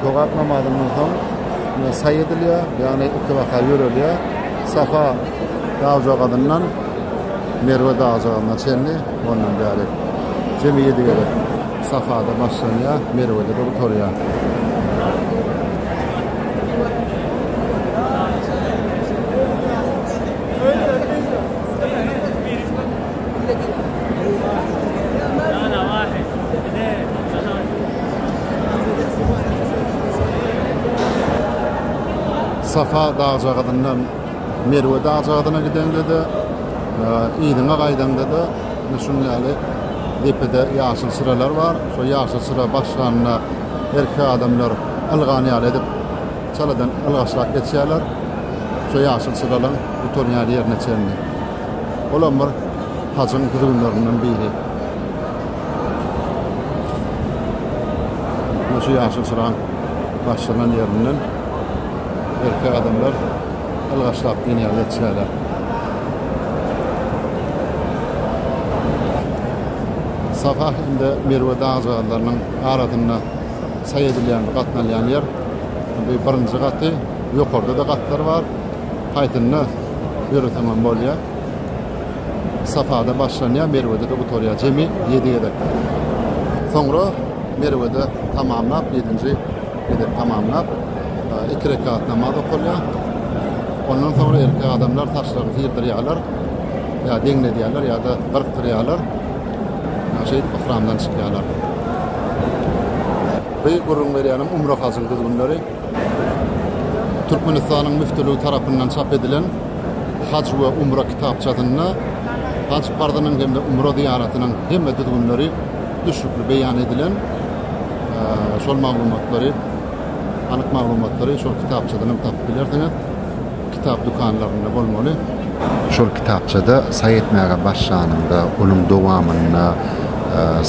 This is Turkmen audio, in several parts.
Jogap namazyndan soň ýa saý edilýär, ýagny iki rakat ýörelýär. Safa dagjagazyndan Merwe dagjagazyna çenli, ondan bäri jemi ýedi gezek Safada başlanýar, Merwede durup turýar. Safa dagjagazyndan Merwe dagjagazyna gideňde-de, yzyňa gaýdaňda-da ine şunuň ýaly depede ýaşyl çyralar bar. Şo ýaşyl çyra başlanda erkek adamlar ylgany ýaly edip çaladan ylgaşlap geçýärler. Şo ýaşyl çyralaryň gutarýan ýerine çenli. Olam bir hajyň düzgünlerinden biri. Muňa şu ýaşyl çyragyň başlanan ýerinden erkek adamlar ylgaşlap diýen ýaly ýetişýärler. Safa hem-de Merwe dagjagazlarynyň arasynda saý edilýän, gatnalýan ýer. Bu birinji gaty, ýokarda-da gatlar bar. Paýtunda ýöreseňem bolýar. Safada başlanýar, Merwede-de gutarýar. Jemi ýedi gezek. Soňra Merwede tamamlap, ýedinji gezek tamamlap, iki rekat namaz okalýar. Ondan soňra erkek adamlar saçlaryny syrdyrýarlar, ýa deňledýärler, ýa-da gyrkdyrýarlar. Şeýdip yhramdan çykýarlar. Bu gürrüň berýänim umra-hajyň düzgünleri. Türkmenistanyň Müftüligi tarapyndan çap edilen Haj we umra kitapçasynda haj parzynyň hem-de umra zyýaratynyň hemme düzgünleri düşnükli beýan edilen şol maglumatlary, anyk maglumatlary şol kitapçadan hem tapyp bilersiňiz. Kitap dükanlarynda bolmaly. Şol kitapçada saý etmäge başlanyňda, onuň dowamynda,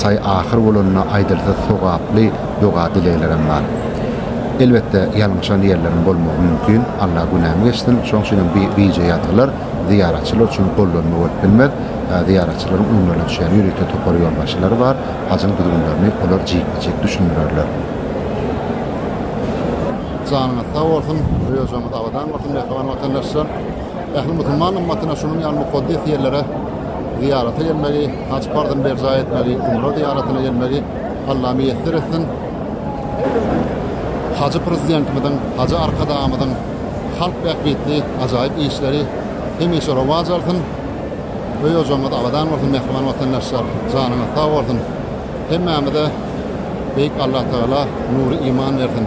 saý ahyr bolanda aýdylsa sogaply doga-dileglerem bar. Elbetde, ýalňyşan ýerlerim bolmagy mümkin. Alla günämi geçsin. Şonuň üçinem bu bije ýazgylar zyýaratçylar üçin gollanma bolup bilmez. Zyýaratçylaryň öňlerine düşýän ýörite topar ýolbaşçylary bar. Hajyň düzgünlerini olar jikme-jik düşündirerler. Janyňyz sag bolsun, Rýožamyz abadan bolsun mähriban watandaşlar! Ähli musulman ymmatyna şunuň ýaly mukaddes ýerlere zyýarata gelmegi, haj parzyny berjaý etmegi, umra zyýaratyna gelmegi Alla miýesser etsin! Hajy Prezidentimiziň, Hajy Arkadagymyzyň halk bähbitli ajaýyp işleri hemişe rowaç alsyn! Rýožamyz abadan bolsun mähriban watandaşlar! Janyňyz sag bolsun! Hemmämize Beýik Allah Tagala nury iman bersin.